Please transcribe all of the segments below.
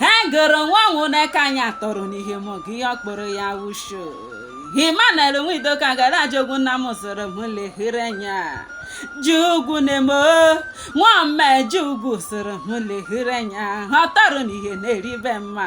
ha goro nwa nwụna ka anyị atọrọ n'ihe mụ gị ihe ọkpụrụ ya wusho Emmanuel Nwidoka gara ajogwu nna m zụrụ m lehere anya jugwu na-eme nwa mme jugwu soro m lehere anya ha tọrọ n'ihe na-eribe mma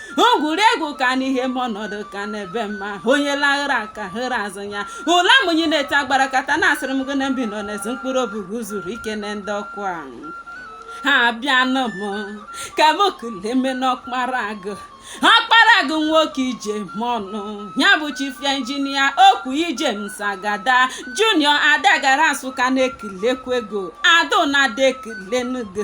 ngwuregwu ka n'ihe m ọnọdụ ka n'ebe mma onye laghara aka hịrị azụ ya ụla mụnyi na-ete agbara kata na-asịrị m gị na mbi nọ n'ezi mkpụrụ obi gị zuru ike na ndokwa ha abịanụ m ka m kuleme n'ọkpara agụ ọkpara agụ nwoke ije m ọnụ ya bụ chief engineer okwu James Agada junior adagara nsụka na-ekelekwa gị o adụ na-ada ekelenu gị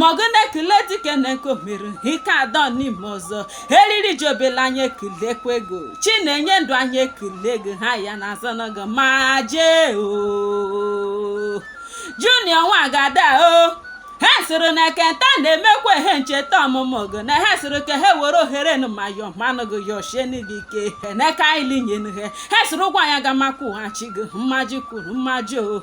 mọgụna ekele dikeneke mere ike adọ n'ime ọzọ eriri jobela anyị ekelekwa gị o chi na-enye ndụ anyị ekele gị o ha ya na azọnọgọ ma jee o junior nwa Agada o ha sịrị na nke taa na-emekwa ihe ncheta ọmụmụ gị na ha sịrị ka ha were ohere nụ ma yọ manụ gị yọ shienu gị ike heneka ilinyenụ ha ha sịrị Ugwuanyị Agama kwụghachi gị mmaji kwuru mmaji o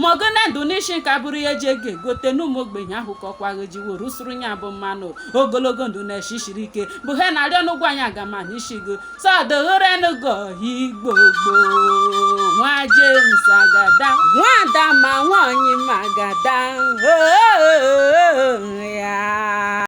ma ọ gụna ndụ n'isi nka bụrụ ya eji ego egote n'ụmụ ogbenye ahụ ka ọkwa gị jiwo rusuru ya bụ manụ ogologo ndụ na eshi siri ike bụ ha na-arịọ nụ Ugwuanyị Agama n'isi gị sọdụrụrenụgo igbo gboo nwa James Agada nwada ma nwaanyị ma Agada oo ya